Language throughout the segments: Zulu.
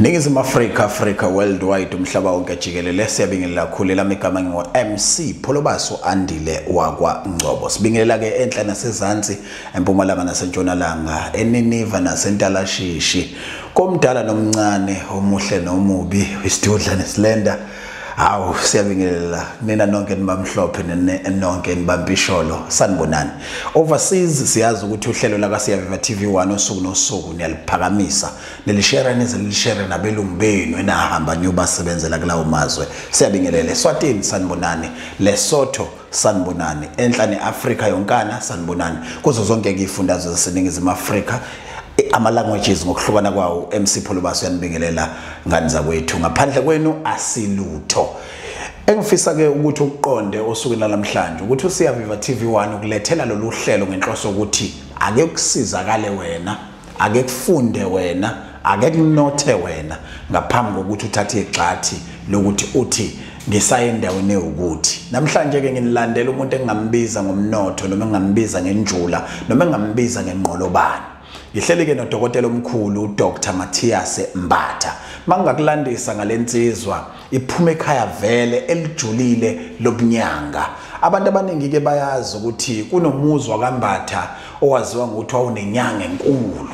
Ningizimu Afrika Africa worldwide umhlaba wonke jikelele siyabingelela kakhulu lami igama ngingo MC Pholobaso Andile wakwa Ngcobo sibingelela ke enhla nasezantsi empumalanga nasentshonalanga eniniva nasentalashishshi komdala nomncane omuhle nomubi isidudla nesilenda hawu siyabingelela nina nonke nibamhlophe nonke nibampisholo sanibonani overseas siyazi ukuthi uhlelo lakasiyaviva TV 1 osuku nosuku niyaliphakamisa lelishera nize nilishere nabelungu benu enahamba niyobasebenzela kulawo mazwe siyabingelele swatini sanibonani lesotho sanibonani enhla ne-afrika yonkana sanibonani kuzo zonke kuyifundazwe zaseningizimu afrika ama-languages ngokuhlukana kwawo mc pholobaso yanibingelela ngani zakwethu ngaphandle kwenu asilutho engifisa ke ukuthi ukuqonde osukwini lalamhlanje ukuthi usiyaviva TV1 ukulethela lolu hlelo ngenhloso ukuthi ake kusizakale wena ake kufunde wena ake kunothe wena ngaphambi kokuthi uthathe igxathi lokuthi uthi ngisayendaweni ewukuthi namhlanje ke nginilandela umuntu engingambiza ngomnotho noma engingambiza ngenjula noma engingambiza ngenqolobane ngihleli ke nodokotela omkhulu uDr Matthias Mbatha mangakulandisa ngalensizwa iphuma ekhaya vele elijulile lobunyanga abantu abaningi ke bayazi ukuthi kunomuzwa kambatha owaziwa ngokuthi wawunenyanga enkulu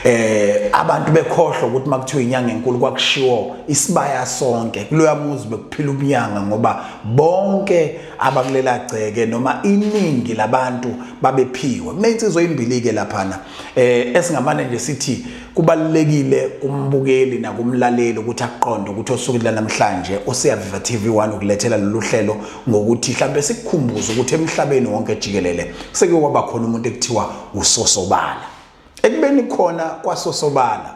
eh abantu bekhohlwa ukuthi makuthiwa inyanga enkulu kwakushiwo isibaya sonke kuloya muzi bekuphila ubunyanga ngoba bonke abakulela gceke noma iningi labantu babephiwe kunensizwa ezimbili ke laphana eh esingamane nje sithi Kubalulekile kumbukeli nakumlaleli ukuthi aqonde ukuthi osukwini lanamhlanje oseyaviva TV 1 ukulethela lolu hlelo ngokuthi mhlawumbe sikukhumbuze ukuthi emhlabeni wonke jikelele seke kwaba khona umuntu ekuthiwa usosobala ekubeni khona kwasosobala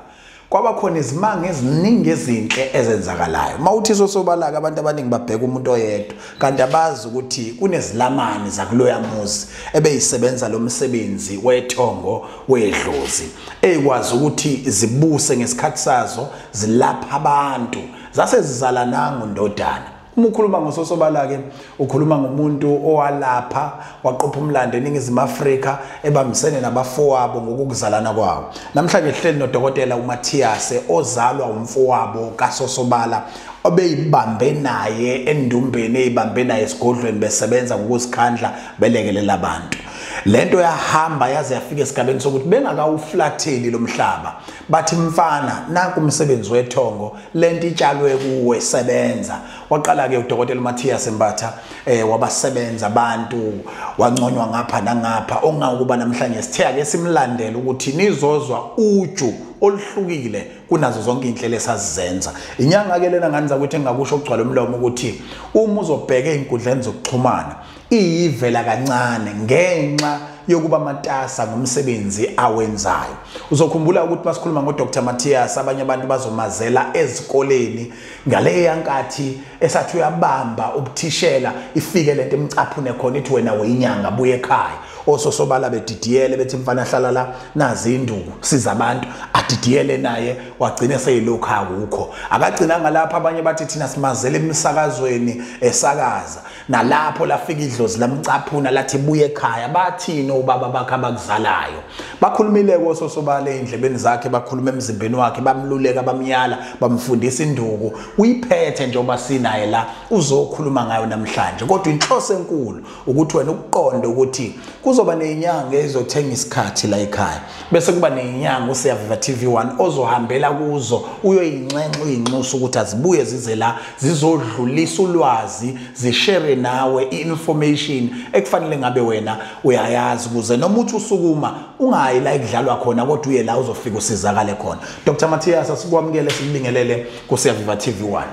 kwaba khona izimanga eziningi ezinhle ezenzakalayo mawuthi sosobalaka abantu abaningi babheka umuntu oyedwa kanti abazi ukuthi kunezilamani zakuloya muzi ebeyisebenza lo msebenzi wethongo wedlozi ekwazi ukuthi zibuse ngesikhathi sazo zilapha abantu zase zizala nangu ndodana uma ukhuluma ngososobala ke ukhuluma ngomuntu owalapha waqopha umlando eningizimu Afrika ebambisene nabafowabo ngokuzalana kwawo namhlanje sihleli nodokotela uMatthiase ozalwa umfowabo kasosobala obeyibambe naye endumbeni eyibambe naye esigodlweni besebenza ngokuzikhandla belekelela abantu lento yahamba yaze yafika esigabeni sokuthi bengakawuflatheli lomhlaba bathi mfana nanku umsebenzi wethongo lento itshalwe kuwe sebenza waqala ke udokotela Matthias Mbatha eh wabasebenza abantu wanconywa ngapha nangapha ongakuba namhlanje sithe ake simlandele ukuthi nizozwa uju oluhlukile kunazo zonke inhlelo esazizenza inyanga ke lena ngani zakuthi engakusho ukugcwala umlomo ukuthi uma uzobheka izinkundleni zokuxhumana iyivela kancane ngenxa yokuba matasa ngomsebenzi awenzayo uzokhumbula ukuthi masikhuluma ngodr matthias abanye abantu bazomazela ezikoleni ngaleya nkathi esathi uyabamba ubuthishela ifike lento emcaphune khona ithi wena weyinyanga buye ekhaya ososobala bedidiyele bethi mfana hlala la nazi induku siza abantu adidiyele naye wagcina seyilokhu akukho akagcinanga lapha abanye bathi thina simazele emisakazweni esakaza nalapho lafika idlozi lamcaphuna lathi buye ekhaya bathini obaba bakhe abakuzalayo bakhulumile kososobala endlebeni zakhe bakhuluma emzimbeni wakhe bamluleka bamyala bamfundisa induku uyiphethe njengoba sinaye la uzokhuluma ngayo namhlanje kodwa inhloso enkulu ukuthi wena ukuqonde ukuthi kuzoba nezinyanga ezothenga isikhathi la ekhaya bese kuba nenyanga useyaviva TV1 ozohambela kuzo uyoyinxenxa uyinxusa ukuthi azibuye zize la zizodlulisa ulwazi zishere nawe i-information ekufanele ngabe wena uyayazi kuze noma uthi usukuma ungayi la ikudlalwa khona kodwa uye la uzofika usizakale khona Dr Matthias asikwamukele sikubingelele kuseyaviva TV1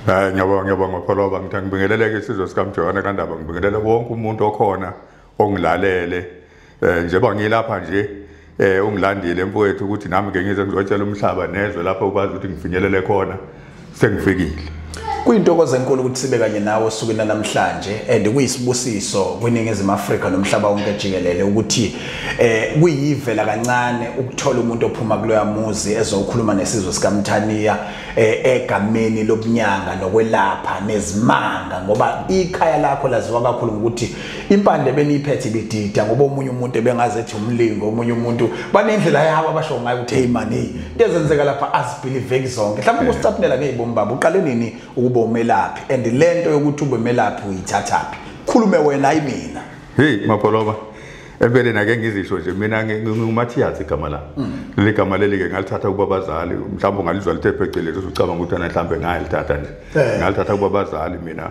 Hayi ngiyabonga ngiyabonga Pholoba ngithanda ngibingeleleke isizwe sikaMjohane kaNdaba ngibingelele wonke umuntu okhona ongilalele eh njengoba ngilapha nje eh ungilandile mfowethu ukuthi nami ke ngize ngizotshela umhlaba nezwe lapha ukwazi ukuthi ngifinyelele khona sengifikile kuyintokozo enkulu ukuthi sibe kanye nawe osukwini namhlanje and kuyisibusiso kwiningizimu Afrika nomhlaba wonke jikelele ukuthi eh kuyivela kancane ukuthola umuntu ophuma kuloya muzi ezokhuluma nesizwe sikaMthaniya eh, egameni lobunyanga nokwelapha nezimanga ngoba ikhaya lakho laziwa kakhulu ngokuthi impande beniyiphethe ibidida ngoba omunye umuntu ebengaze ethi umlingo omunye umuntu banendlela yabo abasho ngayo ukuthi hey man hey into ezenzeka lapha azibelieve zonke mhlawumbe ukusitapnela ngezibomi baba uqale nini ukuba umelaphi and lento yokuthi ube melaphi uyithathaphi khulume wena ayi mina hey mapholoba empeleni ake ngizisho nje mina ngingumathiyazi igama la mm. leli gama leli-ke ngalithatha kuba bazali mhlawumbe ungalizwa lithe phecelezi usucabanga ukuthi ana mhlawumbe ngayalithatha nje eh. ngalithatha kuba bazali mina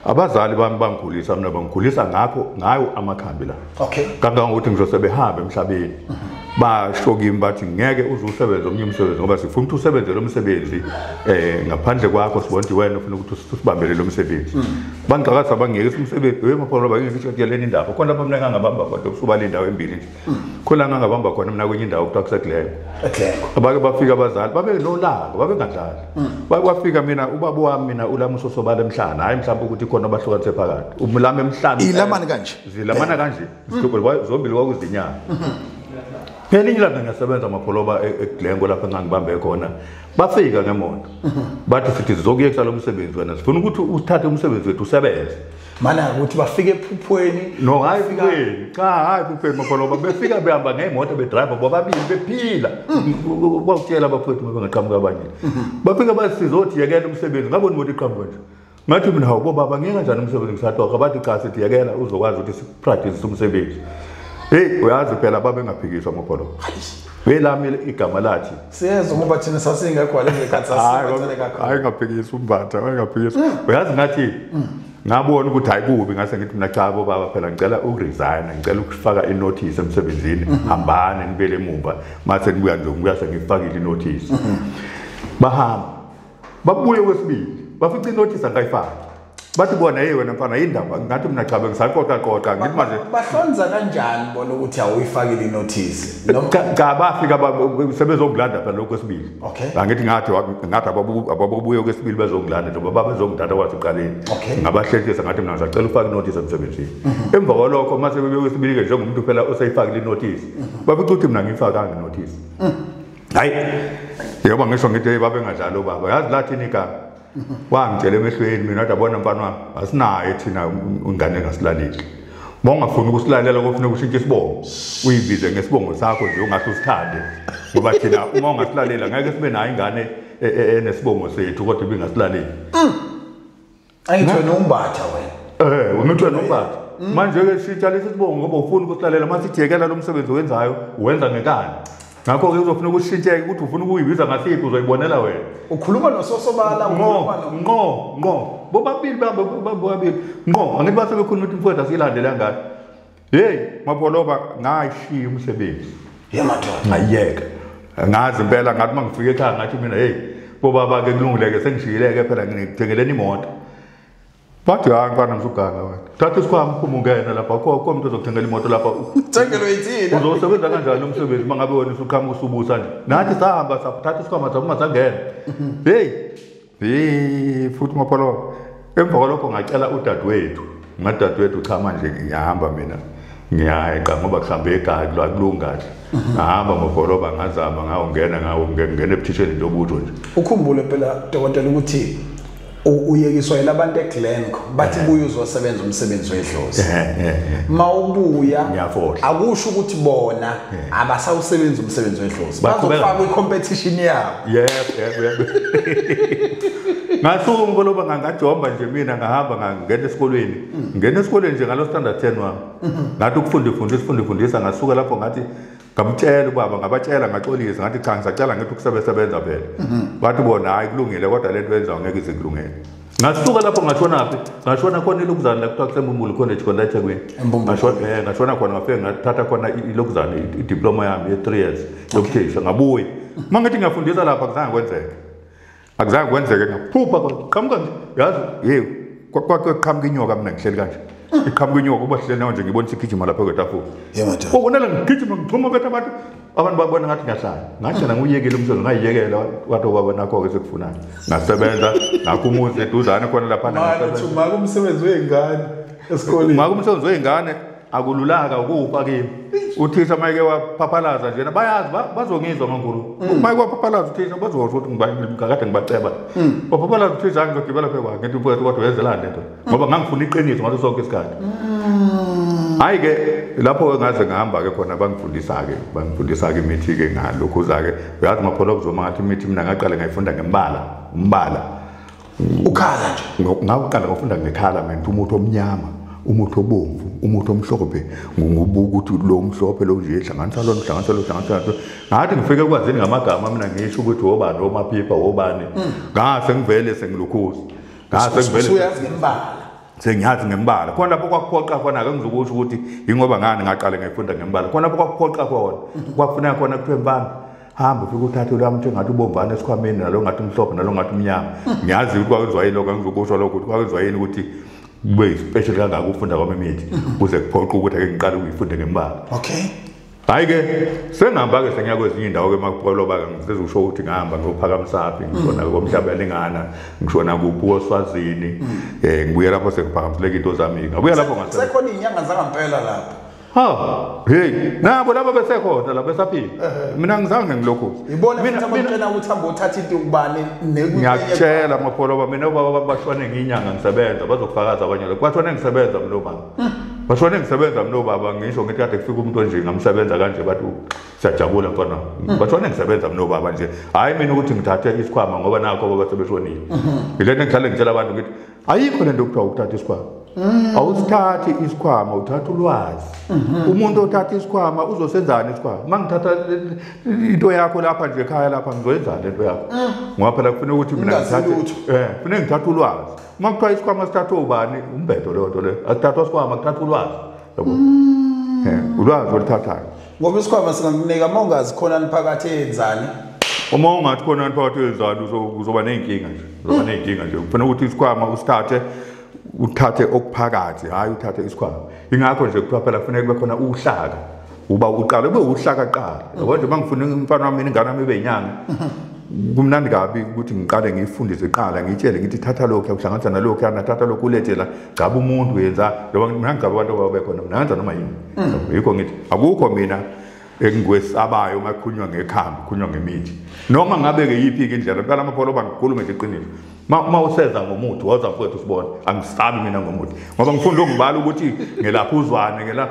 abazali bami bangikhulisa mina bangikhulisa ngakho ngayo amakhambi la okay kangangokuthi ngisho sebehambe emhlabeni basho kimi bathi ngeke uze usebenze omnye umsebenzi ngoba sifuna ukuthi usebenze lo msebenzi um ngaphandle kwakho sibona ukuthi wena ufuna ukuthi usibambele lo msebenzi mm. bangixakasa bangiyekisa umsebenzi wemapholo bangiyekisa ukuthi yaleni indawo khona bamnekangabamba kodwa usuba le ndawo embili nje khona ngangabamba khona mina kwenye indawo kuthiwa kuseglengo abake bafika abazali babenolaka babengadlali mm. bake bafika mina ubaba wami mina ulamuso sobala emhlana hhayi mhlawumbe ukuthi khona abahlukanise phakathi umlama emhlana ilamani kanje zilamana eh. kanje mm. zombili kwakuzinyanga mm-hmm. phela inye ilanga ngiyasebenza amapholoba e-, eglengo lapho engangibambe khona bafika ngemoto mm-hmm. bathi sithi zizokuyekisa lo msebenzi wena sifuna ukuthi uthathe umsebenzi wethu usebenze mana ukuthi bafike ephuphweni no hayi kupheni cha hayi kupheni makholoba befika behamba ngemoto bedriver bobabili bephila kwakutshela abafowethu ngoba ngaqhamuka abanye bafika basizothi yekela umsebenzi ngabona imoto iqhamuka nje ngathi mina hawu bobaba ngeke kanjani umsebenzi ngisatoka bathi cha sithi yekela uzokwazi ukuthi sipractice umsebenzi hey uyazi phela babengaphikiswa makholoba welami igama lathi siyezwa ngoba thina sasingekho wale ngekhathi sasibathele kakhulu hayi ngaphikisa umbatha hayi ngaphikisa hmm. uyazi ngathi hmm. ngabona ukuthi hayi kubi ngase ngithi mina cha bo baba phela ngicela ukuresign ngicela ukufaka inotice emsebenzini hmm. hambani ngibele emuva mase nibuya nje ngibuya sengifakile inotice bahamba babuye kwesibili bafica inothisi angayifaki bathi bona hey wena mfana yindaba ngathi mina chabe ngisaqoqa qoqa ngithi manje bahlonza kanjani bona ukuthi awuyifakile inothisi cha bafika sebezongilanda phela lokho kwesibili okay angithi ngathi ngathi ababuye kwesibili bezongilanda njengoba babezongithatha kwathi uqaleni ngabahlekisa ngathi mina ngisacela ufake inothisi emsebenzini mhm. emva kwalokho mase bebuye kwesibili ke njengomuntu phela oseyifakile inothisi mhm. bafica ukuthi mina ngiyifakanga inothisi mhm. hayi yoba ngisho ngithi hey babe ngadlali ubaba yazi lathini igama wangitshela emehlweni mina kodwa bona mfana wami asinayo thina ingane engasilaleli bongafuni ukusilalela kofuna ukushintsha isibongo uyibize ngesibongo sakho nje ungathi usithande ngoba thina uma ungasilalela ngeke sibe nayo ingane e, e, enesibongo sethu kodwa ibingasilaleli mm. ayithiwe nombatha wena eh unithwe nombatha mm. manje ke shitsha lesi sibongo ngoba ufuna ukuhlalela mase ijekela lo msebenzi owenzayo wenza ngekani ngakho ke uzofuna ukushintsheke ukuthi ufuna ukuyibiza ngasiphi uzoyibonela wena ukhuluma nososobala nqo nqo nqo bobabili bambe bobabili nqo angithi basebekhuluma ukuthi mfowethu asiyilandele angani hey maboloba ngashiya umsebenzi yemadoda ngayeka ngazi impela ngathi mangifika ekhaya ngathi mina hey bobaba ke kulungileke sengishiyileke phela ngithengeleni imoto bathi hayi mfana msuganga wena thatha isikhwama uphuma ungena lapha kho kho umuntu ozokuthengela imoto lapha thengelo yithini uzosebenza kanjani umsebenzi uma ngabe wena usuqhamuka usubusa nje nathi sahamba sathatha isikhwama saphuma sangena hey Hey futhi mapholo emva kwalokho ngacela udadewethu ngadadewethu cha manje ngiyahamba mina ngiyayeqa ngoba kuhlambe ekhaya kula kulunga nje mhm. ngahamba ngobholoba ngazama ngawungena ngawungena ebuthisheni nje obutho nje ukhumbule phela dokotela ukuthi uyekiswa yilabantu eGlenco bathi eh. buye uzosebenza umsebenzi wedlozi eh, eh, mawubuya akusho ukuthi bona abasawusebenzi umsebenzi wedlozi bazofaka kwi-competition yabo yebo yebo ngasuka umkoloba ngangajomba nje mina ngahamba ngangena esikolweni mm. ngena esikolweni nje ngalo standard 10 wami mm-hmm. ngathi ukufunda ifundisa ifunda ifundisa ngasuka lapho ngathi ngamtshela ubaba ngabatshela ngaxolisa ngathi cha ngisacela ngithi ukusebenza vele mm-hmm. bathi bona hayi kulungile kodwa lento yenzayo ngeke ize kulungele ngasuka lapho ngashonaphi ngashona khona ilokuzane la kuthiwa kusembumbulu college khona ethekwini eh, ngashona khona ngafike ngathatha khona ilokuzane idiploma yami ye-three years yokuthisha ngabuya uma ngithi ngiyafundisa lapha akuzange kwenzeke akuzange kwenzeke ngaphupha qhamuka nje yazi yewu kwake qhamuka inyoka mina ngihleli kanje iqhamuka inyoka uba hleli nawo nje ngibonisa igijima lapha kwetafula ubonela ngigijima ngixhuma betha abantu abantu babona ngathi ngiyahlala ngahlala nguyekele umsebenzi ngayiyekela wathi ubaba nakho-ke sekufunayo ngasebenza ngakho umuzi eduzane khona laphanaumaka umsebenzi wey'ngane esikoleni umaka umsebenzi wey'ngane akululaka ukufa kimi uthisha mayeke waphaphalaza njena bayazi bazongizwa mankulu mm. mayeke waphaphalaza uthisha bazosho ukuthi ngikade ngibaceba mm. waphaphalaza uthisha angizogibela phekwakhe ngithi mfowethu kodwa wenzelani lento ngoba ngangifuna iqiniso ngaso sonke isikhathi mm. hayi ke lapho ngaze ngihamba ke khona bangifundisa ke bangifundisa ke imithi ke ngalokhu za ke uyazi mapholo kuzoma ngathi imithi mina ngaqale ngayifunda ngembala umbala ukhala nje ngawuqala ngofunda ngekhala mina umuthi omnyama umuthi obomvu umuthi omhlophe ngokubuka ukuthi lo omhlophe lo nje hlanganisa lo hlanganisa lo hlanganisa lo ngathi ngifike kwazini ngamagama mina ngisho ukuthi wobani omaphipha wobani mm. ngase ngivele sengilukhuza usuyazi ngembala sengiyazi ngembala khona lapho kwakuphoqa khona ake ngizokusho ukuthi yingoba ngani ngaqale ngayifunda ngembala khona lapho kwakuphoqa khona mhm. kwakufuneka khona kuthiwe mfana hamba ufike uthathe lami nje ngathi ubomvana esikhwameni nalo ngathi umhlophe nalo ngathi umnyama mhm. ngiyazi ukuthi kwakwenziwa yini lokho angizokusho lokho ukuthi kwakwenziwa yini ukuthi kube special kangaka ukufunda kwami imithi mhm. kuze kuphoqa ukuthi ake ngiqale ukuyifunde ngembala okay hayi ke sengihamba ke sengiya kwezinye indawo ke makupoloba ke ngifeza ukusho ukuthi ngihamba ngiyophakamsaphi ngishona mm. komhlaba yalingana ngishona kuphi oswazini um mm. eh, ngibuye lapho sengiphakamisileka into zami-ke ngabuya lapho ngasekhona iy'nyanga zangampela lapho ha hey nabo laba besekhona la besaphila mina ngizange ngilokhu ibona futhi abantwana ukuthi hamba uthatha into kubani ngiyakutshela mapholo ba mina ubaba bashwane nginyanga ngisebenza bazokufakaza abanye lokho bashwane ngisebenza mlo mama bashone ngisebenza mina obaba ngisho ngithi kade kufika umuntu onje ngamsebenza kanje bathi siyajabula mfana hmm. bashone ngisebenza mina obaba nje hhayi mina ukuthi ngithathe isikhwama ngoba nakho obaba sebeshonile hmm. ilento engihlale ngitshela abantu ngithi ayikho le nto kuthiwa ukuthatha isikhwama hmm. awusithathi isikhwama uthatha ulwazi umuntu othatha isikhwama uzosenzani isikhwama uma ngithatha into yakho lapha nje ekhaya lapha ngizoyenzani le nto yakho ngoba phela kufuna ukuthi mina ngithathe eh, kufuna ngithathe ulwazi uma kuthiwa isikhwama sithathwa ubani umbhedo leyo nto leyo asithathwa sikhwama kuthathwa ulwazi yabo mm. ulwazi oluthathayo ngoba isikhwama singakunika uma ungazi khona niphakathi eyenzani uma ungathi khona niphakathi eyenzani uzoba ney'nkinga nje uzoba ney'nkinga nje kufanele ukuthi isikhwama usithathe uthathe okuphakathi hhayi uthathe isikhwama ingakho nje kuthiwa phela kufanele kube khona uhlaka uba uqala ube uhlakaqala yabo nje mangifuna umfana wami ingane yami ibe inyanga kumnandi kabi ukuthi ngiqale ngiyifundise qala ngitshele ngithi thatha lokhu yakuhlanganisa nalokhu yana thatha lokhu ulethe la gcaba umuntu yenza loba mina ngigcaba abantu ababe khona mina ngenza noma yini mm. yikho ngithi akukho mina engikwesabayo uma kukhulunywa ngekhambi kukhulunywa ngemithi noma ngabe-ke yiphi-ke indlela kuqala amapholoba ngikhulume nje iqiniso uma useza ngomuthi woza mfowethu sibone angisabi mina ngomuthi ngoba ngifunda ukubala ukuthi ngelapha uzwane ngela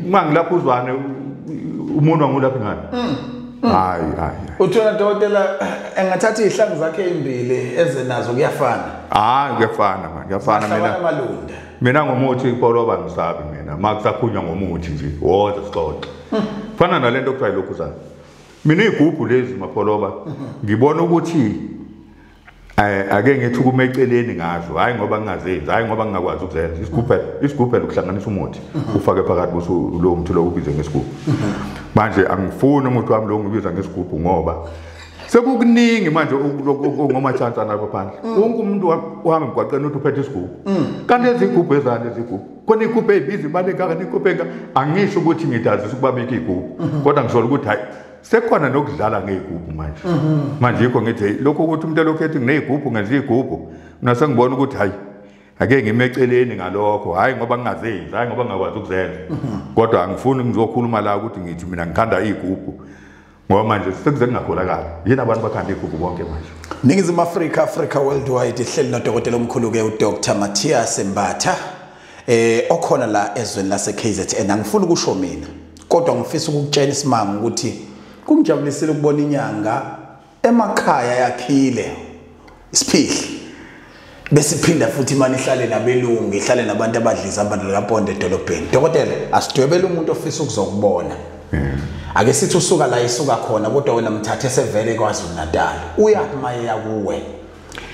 uma ngilapha uzwane umuntu wangulaphi ngani mm, mm. hayi hayi uthona dokotela engathatha izihlangu zakhe ezimbili eze nazo kuyafana hayi kuyafana manje kuyafana mina mina ngomuthi ipoloba ngisabi mina ma kusakhunywa ngomuthi nje woza sixoxe mm. fana nalento kuthiwa yilokhu zana mina iy'gubhu lezi mapoloba mm-hmm. ngibona ukuthi Eh, ake ngithi ukume eceleni ngazo hayi ngoba ngingazenzi hayi ngoba ngingakwazi ukuzenza isigubhela isigubhela ukuhlanganisa umuthi mhm. ufake phakathi kuso lo muthi lo ubize ngesigubhu mhm. manje angifuni umuthi wami lo ngibiza ngesigubhu ngoba sekukuningi manje ngoma chance anabo phandle mm. wonke umuntu wami mgwaqeni uthi uphethe isigubhu mm. kanti ezigubhu ezani ezigubhu khona igubhu eyibiza imali engaka nigubhu engaka angisho ukuthi ngidazisa ukubabika igubhu mm-hmm. kodwa ngisolo ukuthi hayi sekhona nokudlala ngey'gubhu manje mhm. manje yikho ngithi lokho ukuthi umuntu elokhu ethi nginey'gubhu ngenza iy'gubhu mina sengibona ukuthi hhayi ake ngime eceleni ngalokho hhayi ngoba ngingazenzi hhayi ngoba ngingakwazi ukuzenza mhm. kodwa angifuni ngizokhuluma la ukuthi ngithi mina ngithanda iy'gubhu ngoba manje sekuze kungakholakali yini abantu bakhanda iy'gubhu bonke manje ningizimu afrika afrika worldwide ihleli nodokotela omkhulu-ke udr mathias mbatha eh okhona la ezweni lase KZN angifuni ukusho mina kodwa ngifisa ukukutshela isimanga ukuthi kungijabulisile ukubona inyanga emakhaya yakhile isiphihli besiphinda futhi imani ihlale nabelungu ihlale nabantu abadliza abantu likaponde edolobheni dokotela asidwebele umuntu ofisa ukuzokubona hmm. ake sithi usuka la isuka khona kodwa wena mthathe sevele kwaZulu Natal uyakumaye yakuwe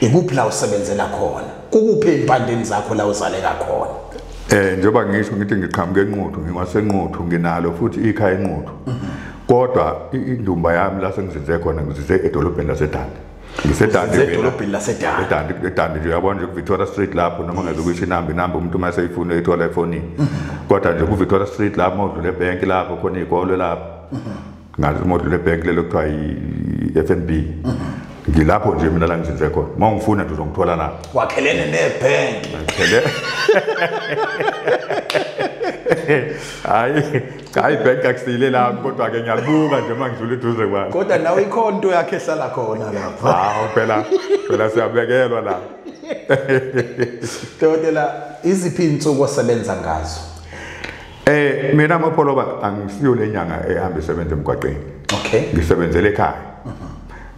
ikuphi la usebenzela khona kukuphi empandeni zakho la uzaleka khona eh njengoba ngisho ngithi ngiqhamuke enquthu ngiwasenquthu nginalo futhi ikhaya enquthu kodwa indumba yami la sengizinze khona ngizinze edolobheni lasedande ngisedande edolobheni lasedande edande edande nje uyabona nje kuVictoria Street lapho noma ngeke ukuyisho inamba inamba umuntu uma seyifuna uyithola efonini kodwa nje kuVictoria Street lapho udlule ebhenki lapho khona izikole lapho ngazi uma udlule ebhenki lelo kuthiwa yi-f n b ngilapho nje mina la ngizinze khona uma ungifuna nje uzongithola la wakhelene nebhenki hayi hayi ibhenki akusile lami kodwa-ke ngiyabuka nje uma ngidlula eduze kwami kodwa nawe ikhona into yakhe ehlala khona lapha hawu phela phela siyabekelwa la dokotela iziphi iy'nsuku osebenza ngazo Eh mina mapholoba angisiyo lenyanga ehamba isebenza emgwaqeni. Okay. Ngisebenzele ekhaya. Mhm.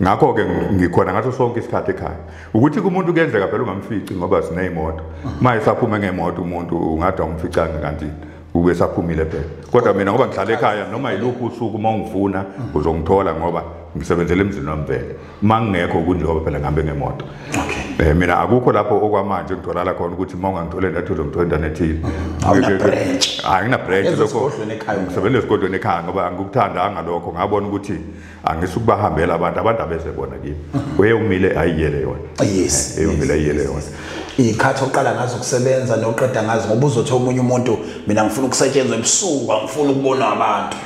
Ngakho ke ngikhona ngaso sonke isikhathi ekhaya. Ukuthi kumuntu kuyenzeka phela ungamfici ngoba sinezimoto. Mhm. Maye saphuma ngemoto umuntu ungathi awumficanga kanti ube saphumile phela. Kodwa mina ngoba ngihlala ekhaya noma yiluphi usuku uma ungifuna mhm. uzongithola ngoba ngisebenzele emzini wami vele. mangingekho kunjengoba phela ngihambe ngemoto okay eh mina akukho lapho okwamanje ngitholala khona ukuthi uma ungangithole ndathi uzongithola indawo ethile hayi ngina branch lokho ngisebenza esigodlweni ekhaya ngoba angikuthandanga lokho ngabona ukuthi angisukubahambela abantu abantu abeze bona kimi mhm. uye umile ayiyele yona yes eh, eyumile ayiyele yona ikhathi oqala ngazo ukusebenza noqeda ngazo ngoba uzothi omunye umuntu mina ngifuna ukusetshenzwa ebusuku angifuni ukubona abantu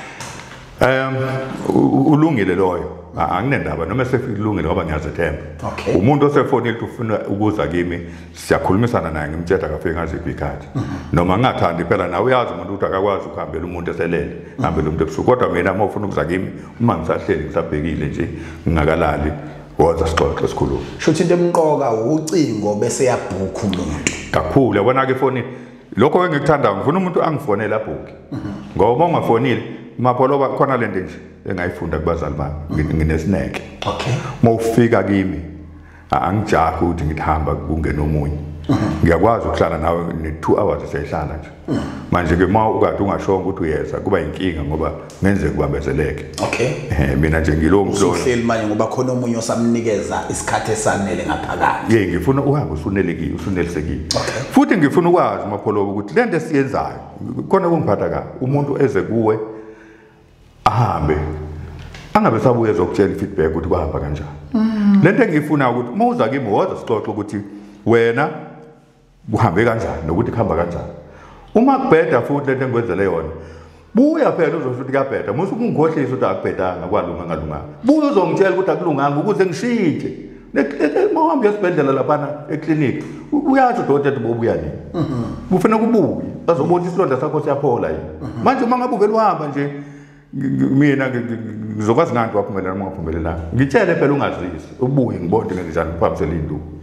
Um ulungile loyo anginendaba noma sekulungile ngoba ngiyazethemba okay. umuntu osefonile ufuna ukuza kimi siyakhulumisana naye ngimtshela akafike ngaziphi ikhathi mm -hmm. noma ngingathandi phela nawe uyazi umuntu ukuthi akakwazi ukuhambela umuntu eselele mm -hmm. hambela umuntu ebusuku kodwa mina uma ufuna ukuza kimi uma ngisahleli ngisabhekile nje ngingakalali woza sixoxe sikhulume shuthi into emqoka ucingo bese yabhukha umuntu kakhulu yabona-ke efonini lokho engikuthandayo ngifuna umuntu angifonele abhuki ngoba uma ungafonile mapholoba khona lento nje engayifunda kubazali bami nginesineke okay uma ufika kimi angijahi ukuthi ngithamba kungena omunye ngiyakwazi ukuhlala nawe ne-two hours siyayihlala nje manje-ke uma ukade ungashongo ukuthi uyeza kuba yinkinga ngoba ngenzeka kubambezeleke okay eh mina nje ngilowo mhlolo usuhleli manje ngoba khona omunye osamnikeza isikhathi esanele ngaphakathi yey ngifuna uhambe usunelekile usunelisekile futhi ngifuna ukwazi mapholobo ukuthi lento esiyenzayo khona kungiphatha ka umuntu eze kuwe ahambe angabe sabuye ezokutshela feedback ukuthi kwahamba kanjani mm. lento engiyifuna ukuthi uma uza kimi woza sixoxe ukuthi wena kuhambe kanjani nokuthi kuhamba kanjani uma kubheda futhi lento engikwenzele yona buya phela uzosho ukuthi kuyabheda musa ukungikhohlisa ukuthi akubhedanga kwalunga ngalunganga buya uzongitshela ukuthi akulunganga ukuze ngishintshe mawuhambe uyesibhedlela laphana ekliniki uyasho udokotela ukuthi bobuya nini mhm. kufanele kubuye azobona isilonda sakho siyaphola yini mhm. manje uma ngabe uvele uhamba nje mina ngizokwazi ngani ukuthi waphumelela noma ungaphumelelanga ngitshele phela ungazisi ubuye ngibone ukuthi ngenzenjani uphambisele induku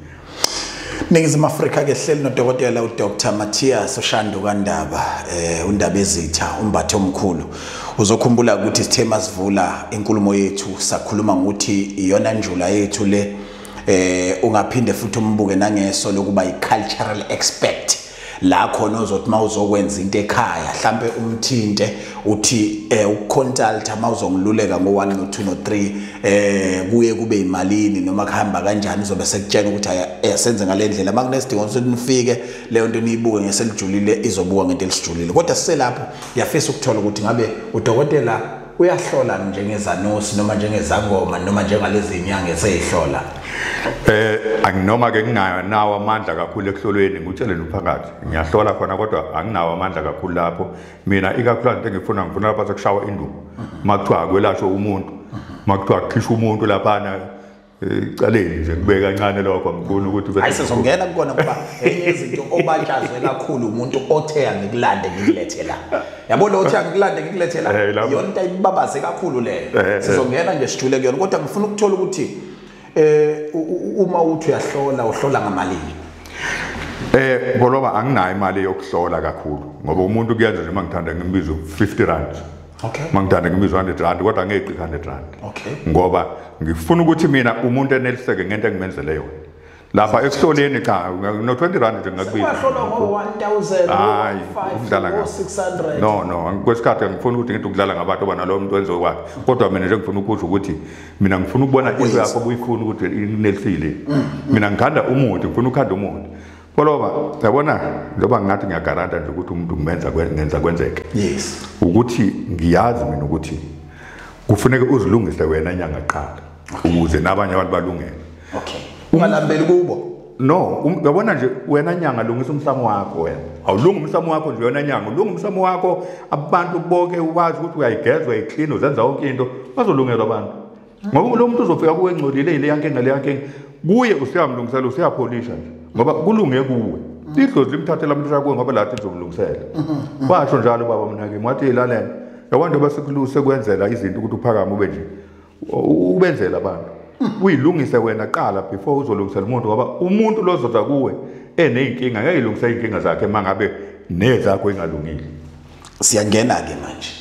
Ningizimu Afrika ke hleli nodokotela uDr Matthias Ushandu kaNdaba eh uNdaba ezitha umbathe omkhulu uzokhumbula ukuthi sithe masivula inkulumo yethu sakhuluma ngokuthi iyona njula yethu le eh ungaphinde futhi umbuke nangeso lokuba i cultural expert la khona ozothi mawuzokwenza into ekhaya mhlambe umthinte uthi eh ukuconsulta mawuzongiluleka ngo1 no 2 no 3 eh kuye kube imalini noma kuhamba kanjani uzobe sekutshena ukuthi asenze ngalendlela makunesidingo ukuthi nifike leyo nto niyibuke ngeselijulile izobuka ngento elisijulile kodwa siselapho yafisa ukuthola ukuthi ngabe udokotela uyahlola njengezanosi noma njengezangoma noma njengalezi inyanga eseyihlola eh anginoma ke nginayo nawo amandla kakhulu ekuhlolweni ngutshele nomphakathi ngiyahlola khona kodwa anginawo amandla kakhulu lapho mina ikakhulu into engifuna ngifuna lapha sokushawa induku makuthiwa akwelashwe umuntu makuthiwa kukhishwa umuntu laphana ecaleni nje kube kancane lokho angifuni ukuthi hayi sizongena kukona kuba enye izinto obatshazwe kakhulu umuntu othe angikulande ngikulethe la yabo lo othe angikulande ngikulethe la eh, yona into ayibabaze kakhulu leyo eh, eh, sizongena nje sijule kuyona kodwa ngifuna ukuthola ukuthi eh uma uthi uyahlola uhlola ngamalini Eh ngoloba anginayo imali yokuhlola kakhulu ngoba umuntu kuyenza nje mangithanda ngimbiza 50 rand okay mangithanda ngimizwa 100 rand kodwa ngeqi 100 rand okay ngoba ngifuna ukuthi mina umuntu eneliseke ngento engimenzele yona lapha ekuhloleni cha no 20 rand nje ngakubiza kwahlolwa ngo 1000 hayi ukudlala ngo 600 no no kwesikhathi ngifuna ukuthi ngithi ukudlala ngabantu bana lo muntu wenze kwakhe kodwa mina nje ngifuna ukuzwa ukuthi mina ngifuna ukubona into yakho obuyifuna ukuthi inelisile mm, mm. mina ngithanda umuthi ngifuna ukhanda umuthi Koloba yabona loba ngathi ngiyagaranta nje ukuthi umuntu ngimenza ngenza kwenzeke. Yes. Ukuthi ngiyazi mina ukuthi kufuneka uzilungise wena nyanga qala ukuze nabanye abantu balungele. Okay. Ungalambeli kubo. No, um, yabona nje wena nyanga lungisa umsamo wakho wena. Awulunga umsamo wakho nje wena nyanga, ulunga umsamo wakho abantu bonke uwazi ukuthi uyayigezwa iclean uzenza yonke into bazolungelwa abantu. ngoba lo muntu uzofika kuwe engcolile yileya nkinga leya nkinga kuye usuyamlungisela usuyapholisha nje ngoba kulunge kuwe idlozi limthathela amlisha kuwe ngoba lathi lizomlungisela washo njalo ubaba mnakimi wathi yilalena yakwanda basekuluse kwenzela izinto ukuthi uphakame ube nje ubenzela abantu uyilungise wena qala before uzolungisela umuntu ngoba umuntu lozoza kuwe eney'nkinga ngeke ilungise iy'nkinga zakhe uma ngabe nezakho ingalungile siyangena-ke manje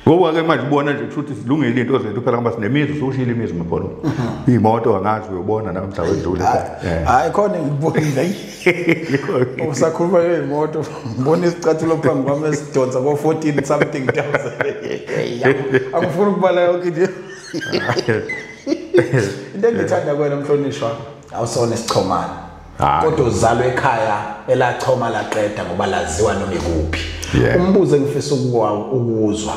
ngoba ke manje ubona nje ukuthi silungile into zethu phela ngoba sinemizi usushile imizi mabholo mhm. imoto angazi uyobona namhla wedlule hayi khona ngibonile usakhuluma yemoto ngibona isicathulo phambi kwami esidonsa ko 14 something thousand angifuni ukubala yonke into into engithanda kwena mhlonishwa awusona isichomana kodwa uzalwa ekhaya elachoma laqeda ngoba laziwa noma ikuphi umbuzo engifisa ukuwuzwa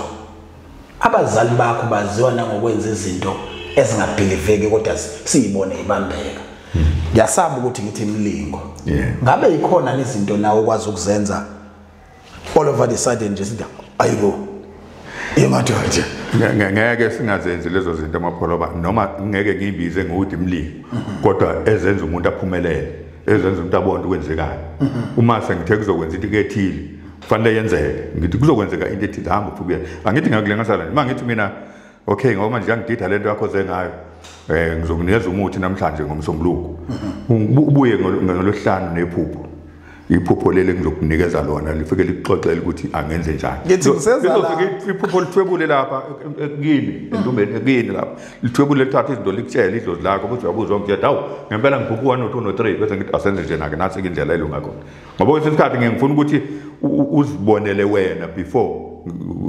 abazali bakho baziwa nangokwenza izinto ezingabhiliveki kodwa siyibone ibambeka ngiyasaba ukuthi ngithi imlingo ngabe yikhona nezinto nawe ukwazi ukuzenza all over the sudden nje sithi ayibo yemadoda ngeke singazenzi lezo zinto amapholoba noma ngeke ngiyibize ngokuthi mlimi mhm. kodwa ezenza umuntu aphumelele ezenza umuntu abone ukwenzekayo mhm. uma sengithe kuzokwenza into kethile kufanele yenzeke ngithi kuzokwenzeka into ethile hamba uphubuyela angithi ngakule ngasala uma ngithi mina okay ngoba manje yangidida lento yakho zengayo eh ngizokunikeza umuthi namhlanje ngomsombuluko mhm. ubuye ngolosihlanu nephupho iphupho leli ngizokunikeza lona lifike likuxoxele ukuthi angenze njani ngizofika iphupho lithwebule lapha e, e, kini entombeni e, kini lapha lithwebule lithatha izinto likutshele idlozi lakho ukuthi uyabuzwa ngitshela hawu ngempela ngiphuphe u-one no-two no-three bese ngithi asenze njena-ke nasi-ke indlela elunga khona ngoba kwesinye isikhathi ngeke ngifuna ukuthi uzibonele wena before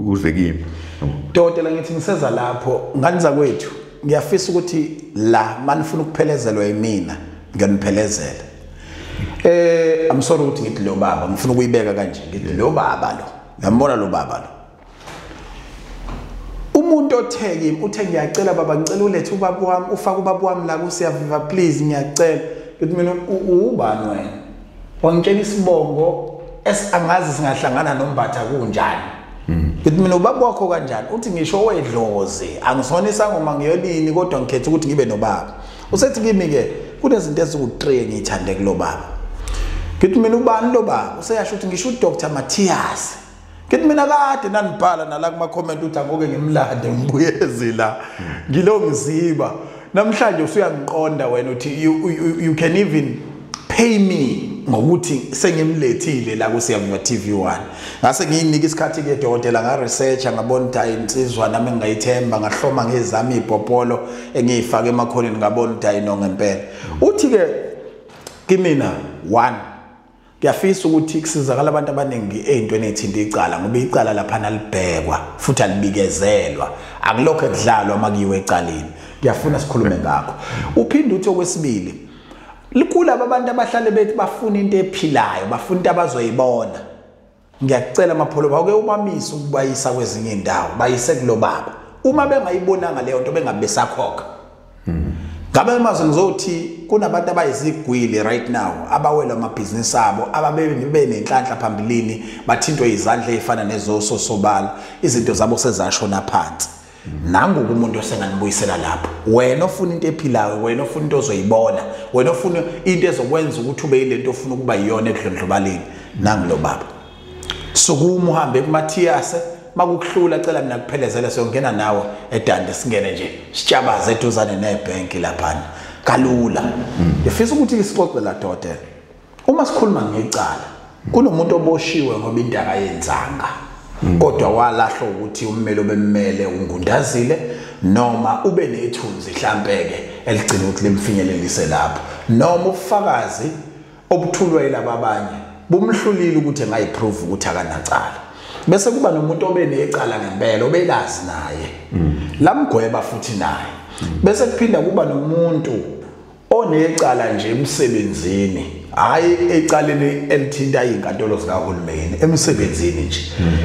uze kimi dokotela ngithi ngiseza lapho ngani zakwethu ngiyafisa ukuthi la manifuna ukuphelezelwa yimina ngiyaniphelezela eh i'm sorry ukuthi ngithi lo baba ngifuna ukuyibeka kanje ngithi lo baba lo ngiyambona lo baba lo umuntu othe kimi uthe ngiyacela baba ngicela ulethe ubaba wami ufake ubaba wami la kusiyaviva please ngiyacela ngithi mina ubani wena wangitshela isibongo esangazi singahlangana nombatha kunjani ngithi mina ubaba wakho kanjani uthi ngisho wedlozi angisona isangoma ngiyolini kodwa ngikhetha ukuthi ngibe nobaba usethi kimi-ke kunezinto eziwu-three engiyithande kulo baba ngithi mina ubani lo baba useyasho ukuthi ngisho udr matthias ngithi mina kade nandibhala nala kuma-comment ukuthi angoke ngimlande ngibuyezi la ngilo mziba namhlanje usuyangiqonda wena uthi you, you, you can even pay me ngokuthi sengimlethile la kuSiyabonga TV1 ngase ngiyinika isikhathi ke dokotela nga researcher ngabona ukuthi hayi insizwa nami ngayithemba ngahloma ngezami ibhopolo engiyifaka emakhoneni ngabona ukuthi hayi no ngempela uthi ke kimina 1 Ngiyafisa ukuthi kusizakala abantu abaningi ey'ntweni ey'thinta icala ngoba icala laphana libhekwa futhi alibikezelwa akulokho ekudlalwa uma kuyiwe ecaleni ngiyafuna sikhulume ngakho uphinde uthi okwesibili likulaba abantu abahlale bethi bafuna into ephilayo bafuna into abazoyibona ngiyakucela mapholoba uke ubamise ukubayisa kwezinye indawo bayise kulo baba uma bengayibonanga leyo nto bengabe besakhokha ngabe maze ngizothi kunabantu abayizigwili right now abawela amabhizinisi abo ababebe nenhlanhla phambilini bathintwe izandla ezifana nezoso sobala izinto zabo sezasho naphansi nangoku umuntu osenganibuyisela lapho wena ofuna into ephilayo wena ofuna into ozoyibona wena ofuna into ezokwenza ukuthi ube yilento ofuna ukuba yiyona ekudlondlobaleni nangilo baba sukuma uhambe kumathiyase makukuhlula cela mina kuphelezele siyongena nawe edande singene nje sitshabaze eduzane nebhenki laphana kalula ngifisa ukuthi isixoxe la dokotela uma sikhuluma ngecala kunomuntu oboshiwe ngoba into akayenzanga mm. kodwa walahlwa ukuthi ummeli obemmele ungundazile noma ube nethunzi hlampeke eligcina ukuthi limfinyelelise lapho noma ubufakazi obuthulwa yilaba abanye bumhlulile ukuthi engayiprove ukuthi akanacala bese kuba nomuntu obe necala ngempela obelazi naye mm. lamgweba futhi naye mm. bese kuphinda kuba nomuntu onecala nje emsebenzini hayi ecaleni elithinta izinkantolo zikahulumeni emsebenzini nje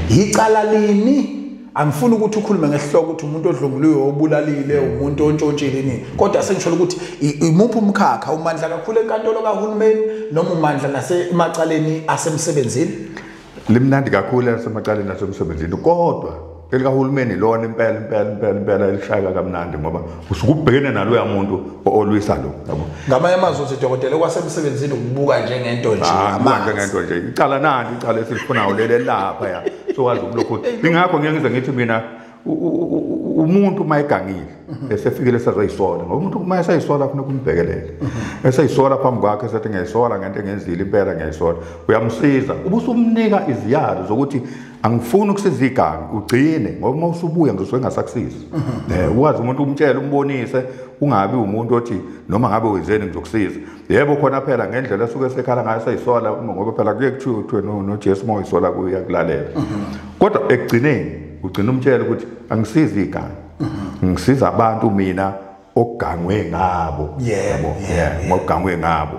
yicala lini angifuni ukuthi ukhulume ngesihloko ukuthi umuntu odlunguliwe obulalile umuntu ontshontshile nini kodwa sengisholo ukuthi imuphi umkhakha umandla kakhulu enkantolo kahulumeni noma umandla nasemacaleni asemsebenzini limnandi kakhulu elisemacaleni asemsebenzini kodwa elikahulumeni lona impela impela impela impela elishayeka kamnandi ngoba usukubhekene naloya muntu olwisa lo yabo ngamanye amazwi uthi dokotela okwasemsebenzini ukubuka njengento nje ah, manje ngento nje icala nani icala esilifunayo leli lapha ya sowazi ukulokhu ingakho ngeke ngize ngithi mina umuntu uma egangile mhm. esefikile esazoyisola ngoba umuntu uma esayisola funa kumbhekelele mhm. esayisola phambi kwakhe esathi ngiyayisola ngento engenzile impela ngiyayisola uyamsiza uba usumnika iziyalo zokuthi angifuni ukusiza igangi ugcine ngoba uma usubuya ngizosuke ngasakusiza um mhm. eh, ukwazi umuntu umtshele umbonise ungabi umuntu othi noma ngabe wenzeni ngizokusiza yebo khona phela ngendlela esuke sekhala ngayo seyisola uma ngoba phela kuye kuthiwe kuthiwe nojesu uma uyisola kuye uyakulalela kodwa ekugcineni ugcina umtshela ukuthi angisizi iganga ngisiza abantu mina ogangwe ngabo yebo ngogangwe ngabo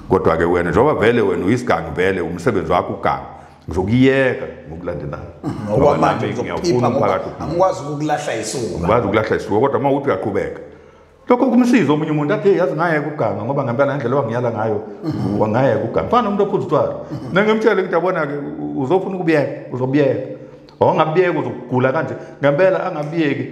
kodwa-ke wena njengoba vele wena uyisigangi vele umsebenzi wakho uganga ngizokuyeka ngokulandelayo okwamanje ngiyawufuna umphakathi angikwazi ukulahla isuka ngikwazi ukulahla isuka kodwa uma uthi uyaqhubeka lokho kumsiza omunye umuntu athi yazi ngaye kuganga ngoba ngempela ngendlela wangiyala ngayo wangaye kuganga fana umuntu ophuza utshwala nengimtshele ukuthi abona-ke uzofuna ukubiyeka uzobiyeka ongabiyeka uzokugula kanje ngempela angabiyeki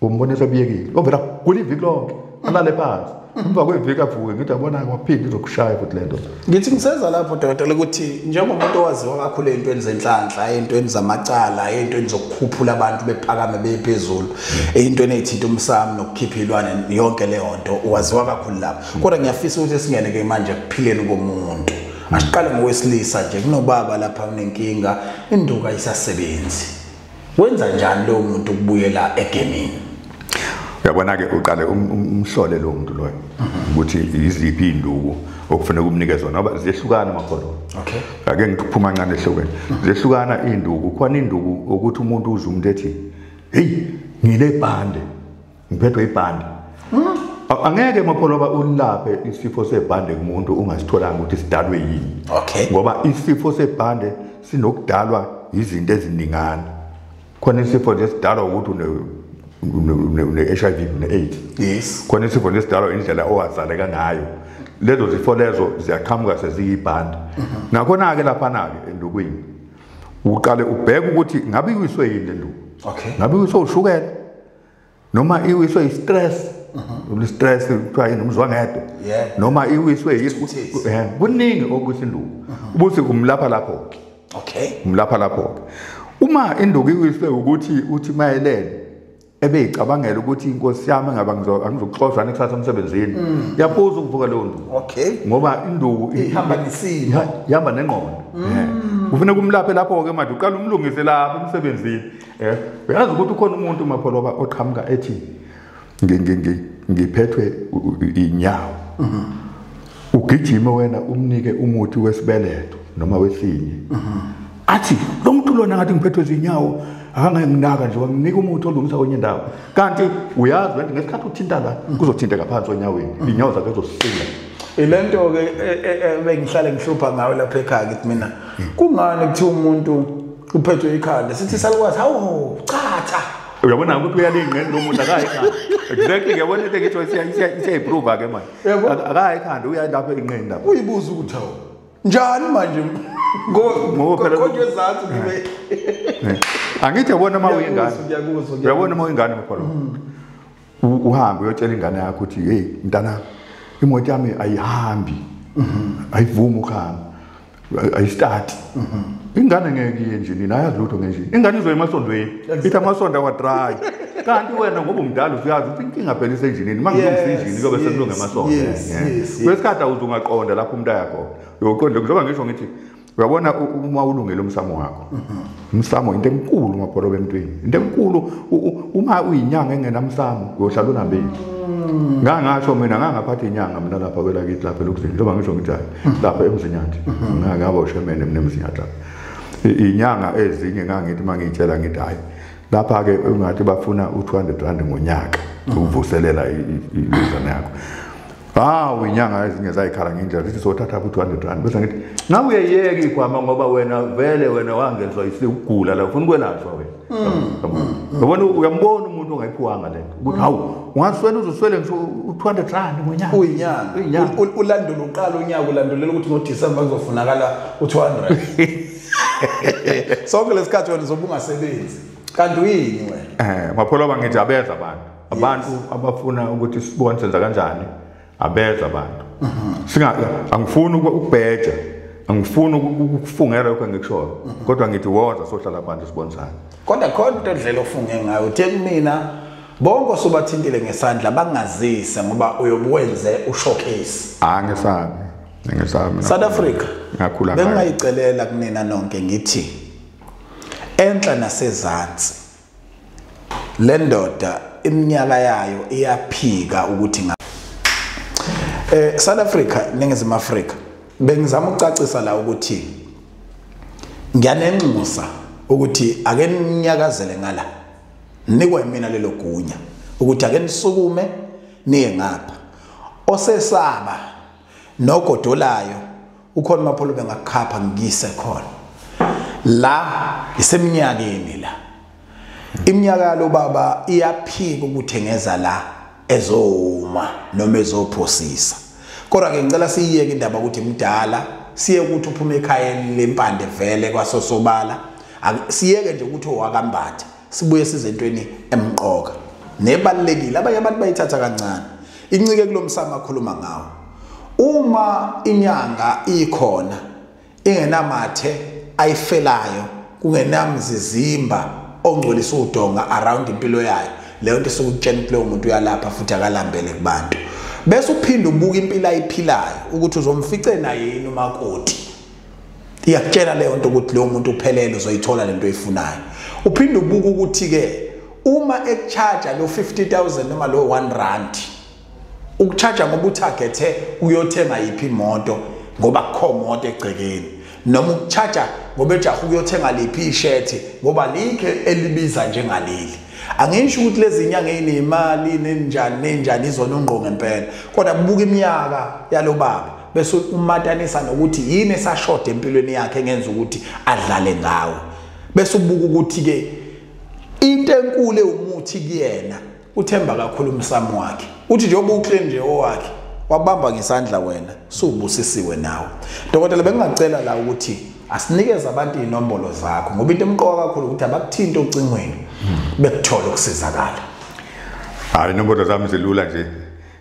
umbonisa obiyekile ovela kugula iviki lonke alale phansi emva kweviki avuke ngithi abona-ke waphinde izokushaya futhi le nto ngithi ngiseza lapho dokotela ukuthi njengomuntu owaziwa kakhulu ey'ntweni zenhlanhla ey'ntweni zamacala ey'ntweni zokukhuphula abantu bephakame beye phezulu ey'ntweni ey'thinta umsamo nokukhipha iy'lwane yonke leyo nto waziwa kakhulu lapho kodwa ngiyafisa ukuthi singene-ke manje ekuphileni komuntu asiqale ngowesilisa nje kunobaba lapha unenkinga induka isasebenzi Wenza njani lo muntu ukubuyela egemini? Uyabona ke uqale um, um, umhlole lo muntu loyo ukuthi iziphi induku okufanele kumnikeze zona ngoba ziyehlukana amakholo. Okay. Ake ngiphuma kancane ehlokweni. Ziyehlukana induku, khona induku ukuthi umuntu uzumuntu ethi, "Hey, ngine bande." ngiphethwe ibhande hmm? angeke mapholoba ulaphe isifo sebhande kumuntu ungasitholanga ukuthi sidalwe yini okay ngoba isifo sebhande sinokudalwa izinto eziningana khona isifo nje sidalwa ukuthi une-hiv une-aids yes khona isifo nje sidalwa indlela owazaleka ngayo lezo zifo lezo ziyaqhamuka seziyibhande mhm. nakhona-ke laphana-ke endukwini uqale ubheke ukuthi ngabe iwiswe yini le nduku okay ngabe iwiswe ushukela noma iwiswe i-stress mhm. i-stress kuthiwa yini umzwangedwa noma iwiswe eh, kuningi okuthi induku mhm. ubuthi umlapha lapho-ke okay umlapha lapho-ke uma induku iwiswe ukuthi uthi mayelele ebeyicabangela ukuthi inkosi yami ngaba angizokuxoshwa nekusasa emsebenzini mm. yaphuza ukuvuka leyo nduku okay ngoba induku ihamba nesimo ihamba nengqondo mm. eh. kufuneka umlaphe lapho-ke manje uqala umlungise lapho emsebenzini Eh, uyazi ukuthi ukhona umuntu mapholoba oqhamuka ethi ngiphethwe inyawo mhm. ugijime wena umnike umuthi wesibeletho noma wesinye mhm. athi lo muntu lona ngathi ngiphethwe zinyawo akanganginaka nje wanginika umuthi olungisa kwenye indawo kanti uyazi wena ngesikhathi uthinta la mhm. kuzothinteka phansi onyaweni inyawo zakhe zosinda ilento-ke e, e, e, bengihlale ngihlupha ngayo lapha ekhaya kithi mina kungani kuthiwa umuntu uphethwe ikhanda sithi salukwazi hawu chatha uyabona ukuthi uyalingqela lo muntu akayi khanda exactly uyabona into engitho isiyayiprova ke manje akayi khanda uya lapho enqeni lapho uyibuza ukuthi hawu njani manje ngokonje ezansi ngibe angithi yabona uma uyingane uyabona uma uyingane mkholo hmm. uhambe uyotshela ingane yakho ukuthi hey mntanami imoto yami ayihambi mm-hmm. ayivumi ukuhamba ayistati ingane ngeke iye nje nina ayazi lutho ngenje ingane izoya emasondweni ithi amasondo awadrayi kanti wena ngoba umdala usuyazi ukuthi inkinga phela isenjinini uma ngilungisa injini kuyobe sekulunga emasondo kwesikhathi awuze ungaqonda lapho umuntu ayakhona uyoqonda njengoba ngisho ngithi uyabona uma ulungele umsamo wakho mhm. umsamo into enkulu mabholobe emntwini into enkulu uma uyinyanga engenamsamo uyohlala unambili mm. ngangasho mina ngangaphatha inyanga mina lapha kwelakithi lapha elokuzini njengoba ngisho ngithi hayi mm-hmm. lapha emzinyathi mm-hmm. ngangaba ushemene mina emzinyathi lapha inyanga ezinye ngangithi uma ngiyitshela ngithi hayi lapha-ke ungathi bafuna u-two hundred rand ngonyaka mm-hmm. ukuvuselela ilizana yakho hawu inyanga ezinye zayikhala ngendlela zithi sothatha ku 200 rand bese ngithi nawe uyeyeka igwama ngoba wena vele wena wangenziwa isigula la ufuna ukwelashwa wena mm. yabona uyambona umuntu ongayiphiwanga le nto ukuthi hawu ungaswela uzoswele ngisho u-200 rand ngonyaka uyinyanga ulandula uqala unyaka ulandulela ukuthi ngodisemba kuzofunakala u-200 sonke lesikhathi wena uzobe ungasebenzi kanti uyini wena um eh, maphola bangithi abeza abantu abantu abafuna ukuthi sibone senza kanjani abeza abantu mhm. singa angifuni ukubheja angifuni ukufungela lokho engikushoyo mhm. kodwa ngithi woza sohlala phansi sibonisane kodwa khona into edlela ofunge ngayo uthe kumina bonke osubathintile ngesandla bangazise ngoba uyobuwenze ushowcase ah ngesabi ngesabi South Africa ngakhula bengayicelela kunina nonke ngithi enhla nasezantsi le ndoda iminyaka yayo iyaphika ukuthi nga eh South Africa ningizimu Africa bengizama ukucacisa la ukuthi ngiyanenxusa ukuthi ake ninyakazele ngala nikwa mina lelo gunya ukuthi ake nisukume niye ngapha osesaba nogodolayo ukhona umapholo bengakukhapha ngikise khona la iseminyakeni la iminyaka yalo baba iyaphika ukuthengeza la ezoma noma ezophosisa kodwa ke ngicela siyiyeke indaba ukuthi mdala siye ukuthi uphuma ekhayeni lempande vele kwasosobala siyeke nje ukuthi owakambatha sibuye size entweni emqoka nebalekile abanye abantu bayithatha kancane incike kulomsamo akhuluma ngawo uma inyanga ikhona ingenamathe ayifelayo kungenamzizimba ongcolisa udonga around impilo yayo leyo nto sokutshela ukuthi leyo muntu uyalapha futhi akalambele kubantu bese uphinde ubuka impilo ayiphilayo ukuthi uzomfice naye yini umakoti iyakutshela leyo nto ukuthi leyo muntu uphelele uzoyithola lento oyifunayo uphinde ubuke ukuthi ke uma ekucharge lo 50000 noma lo 1 rand ukucharge ngoba uthagethe uyothenga yiphi imoto ngoba kukho moto egcekeni noma ukucharge ngoba ejaha ukuyothenga liphi ishethi ngoba likhe elibiza njengaleli angisho ukuthi lezi nyanga ezinemali nenjani nenjani izona ungqo ngempela kodwa buka iminyaka yalobaba bese umatanisa nokuthi yini esashoda empilweni yakhe engenza ukuthi adlale ngawo bese ubuka ukuthi ke into enkulu ewumuthi kuyena uthemba kakhulu umsamo wakhe uthi njengoba uclean nje owakhe wabamba ngesandla wena suubusisiwe nawe dokotela bengingacela la ukuthi asinikeze abantu inombolo zakho ngoba into emqoka kakhulu ukuthi abakuthinte ocingweni bekuthole ukusizakala hayi inombolo zami zilula nje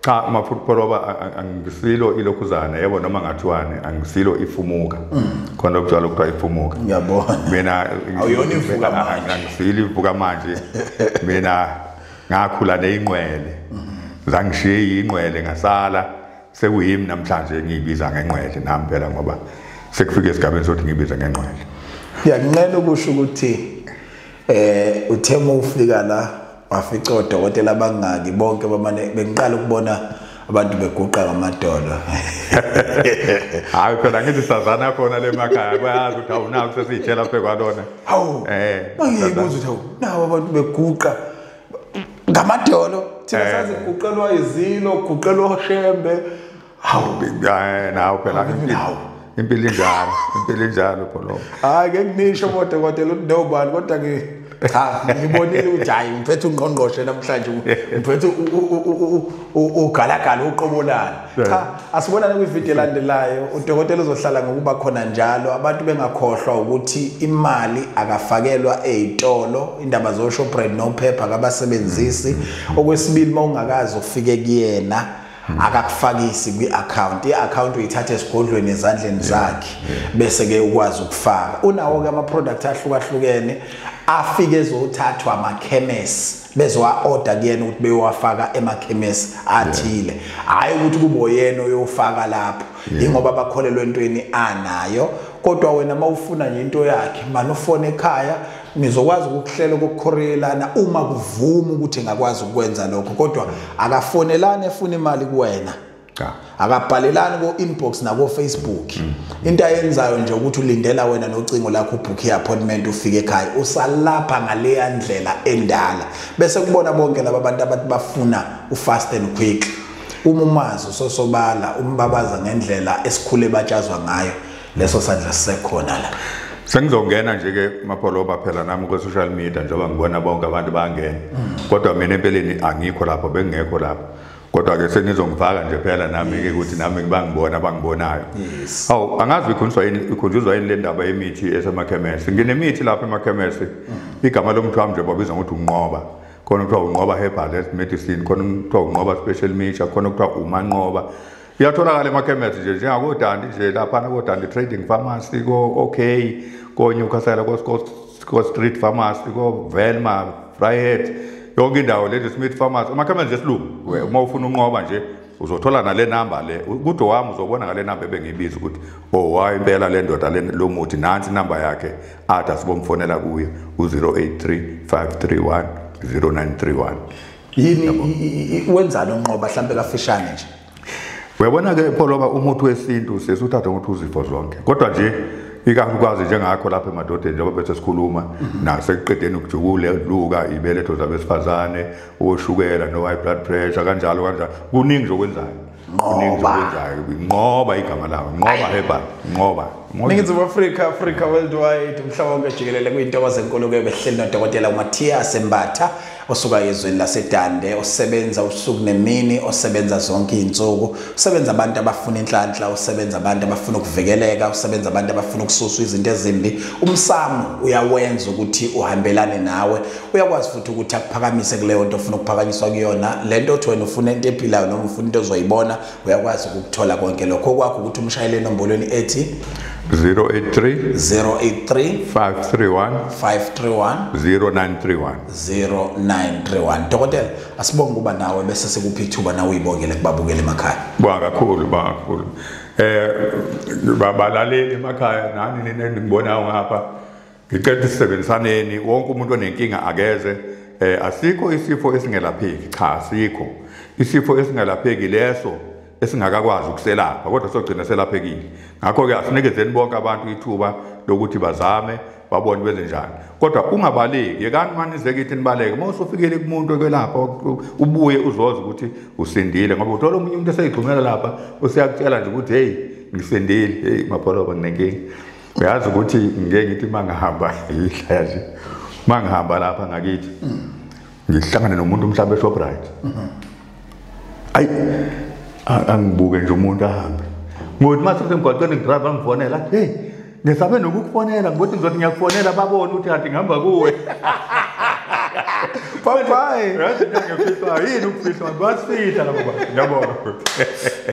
cha maphupheloba angisilo ilokhuzana yebo noma ngathiwani angisilo ifumuka mm. khona okujwayele kuthiwa ifumuka ngiyabona mina awuyona ivuka manje angisilo ivuka manje mina ngakhula neyinqwele mm-hmm. zangishiye yinqwele ngasala sekuyimi namhlanje ngiyibiza ngenqwele nami phela ngoba sekufike esigabeni sokuthi ngibize ngenqwele ngiyakunqela ukusho ukuthi eh uthe uma ufika la wafica odokotela abangaki bonke bamane bengiqala ukubona abantu beguqa ngamadolo hayi phela ngithi sazana khona le makhaya bayazi ukuthi awunawo kusesiyitshela phe kwalona hawu eh bangiyibuza ukuthi hawu nawo abantu beguqa ngamadolo thina eh. saziguqelwa izilo guqelwa oshembe hawu eh, nawe phela impilo impilo injalo impilo injalo pholo hayi ke nginisho kodwa kodwa lo nobani kodwa ke cha ngibonile ukuthi hayi ngiphethe ungqongqoshe namhlanje ngiphethe ugalagala uqobolana cha asibonane kwivideo elandelayo udokotela uzohlala ngokuba khona njalo abantu bengakhohlwa ukuthi imali akafakelwa ezitolo indaba zo Shoprite no Pepper kabasebenzisi okwesibili mawungakazi ufike kuyena Hmm. akakufakisi kwi-akhawunti i-akhawunti uyithatha esigodlweni ezandleni zakhe bese-ke ukwazi ukufaka unawo-ke ama-product ahlukahlukene afike ezothathwa amakhemesi bezowa-oda kuyena ukuthi bewafaka emakhemesi athile hhayi ukuthi kuboyena oyofaka lapho yingoba bakholelwa entweni anayo kodwa wena uma ufuna nje into yakhe mani ufone ekhaya ngizokwazi ukuhlela ukukhorelana uma kuvuma ukuthi ngakwazi ukwenza lokho kodwa akafonelani efuna imali kuwena cha akabhalelani ko inbox nako Facebook mm. into ayenzayo nje ukuthi ulindela wena nocingo lakho book appointment ufike ekhaya usalapha ngaleya ndlela endala bese kubona bonke laba bantu abathi bafuna u fast and quick uma umazi usosobala umbabaza ngendlela esikhule batshazwa ngayo leso sandla sisekhona la sengizongena nje ke mapholoba phela nami ku social media njengoba ngibona bonke abantu bangena kodwa mina empeleni angikho lapho bengekho lapho kodwa ke senizongifaka nje phela nami ke ukuthi nami ngibangibona abangibonayo yes awu angazi ikhunjuzwa yini ikhunjuzwa yini le ndaba yemithi esemakhemesi nginemithi lapha emakhemesi mm. igama lomntu wami nje babiza ngokuthi unqoba khona kuthiwa unqoba herbal medicine khona kuthiwa unqoba special mixture khona kuthiwa umanqoba iyatholakala emakhemesi nje njengakodandi nje laphana kodandi trading pharmacy ko-ok konyukhasela ko-street pharmacy ko-velma frihet yonke indawo lady smith pharmacy amakhemesi nje silungu uma ufuna unqoba nje uzothola nale namba le kude wami uzobona ngale namba ebengiyibiza ukuthi owayo oh, impela le ndoda lo muthi nansi inamba yakhe athi asibomfonela kuye u-083 531 0931 yini wenzani unqoba mhlambe kafishane nje uyabona ke pholoba umuthi wesintu sesuthatha ukuthi uzifo zonke kodwa nje ikakhulukazi njengakho lapha emadodeni njengoba bese sikhuluma mhm. nasekuqedeni ukujukule luka ibeletho zabesifazane oshukela no-high blood pressure kanjalo kanjalo kuningi nje okwenzayo nqoba nqoba igama lawo nqoba heban nqoba ningizimu afrika afrika worldwide umhlaba wonke jikelele kuyintokozo enkulu ke behleli nodokotela umathias embatha osuka ezweni lasedande osebenza usuku nemini osebenza zonke izinsuku usebenza abantu abafuna inhlanhla usebenza abantu abafuna ukuvikeleka usebenza abantu abafuna ukususwa izinto ezimbi umsamo uyawenza ukuthi uhambelane nawe uyakwazi futhi ukuthi akuphakamise kuleyo nto ofuna ukuphakanyiswa kuyona le nto othi wena ufuna into ephilayo noma ufuna into ozoyibona uyakwazi ukukuthola konke lokho okwakho ukuthi umshayele enombolweni ethi 083 083 531 531 0931 0931 dokotela asibonge ukuba nawe bese sikuphi ithuba nawe uyibongele kubabukele emakhaya ba kakhulu ba kakhulu eh babalaleli emakhaya nani nina ningibonayo ngapha ngicela ukuthi sisebenzisaneni wonke umuntu onenkinga akeze eh asikho isifo esingelapheki cha asikho isifo esingelapheki leso esingakakwazi ukuselapha kodwa sogcina selaphekile ngakho-ke asinikezeni bonke abantu ithuba lokuthi bazame babone benze njani kodwa ungabaleki yekani mani izekithi nibaleke uma usufikile kumuntu okwelapha ubuye uzoze ukuthi usindile ngoba uthola omunye umuntu eseyigxumela lapha useyakutshela nje ukuthi heyi ngisindile heyi mapholoba nginenkinga uyazi ukuthi ngeke ngithi uma ngihamba yihlaya nje uma ngihamba lapha ngakithi ngihlangane nomuntu mhlawumbe eshoprite ayi angibuke nje umuntu ahambe ngokuthi uma sesemgwaqeni ngidrayiva ngifonela heyi ngisabe nokukufonela ngokuthi ngizothi ngiyakufonela babone ukuthi kanti ngihamba kuwe Papai! Yini ukufihlwa? Yini ukufihlwa? Basifihla labo bantu. Ngiyabonga.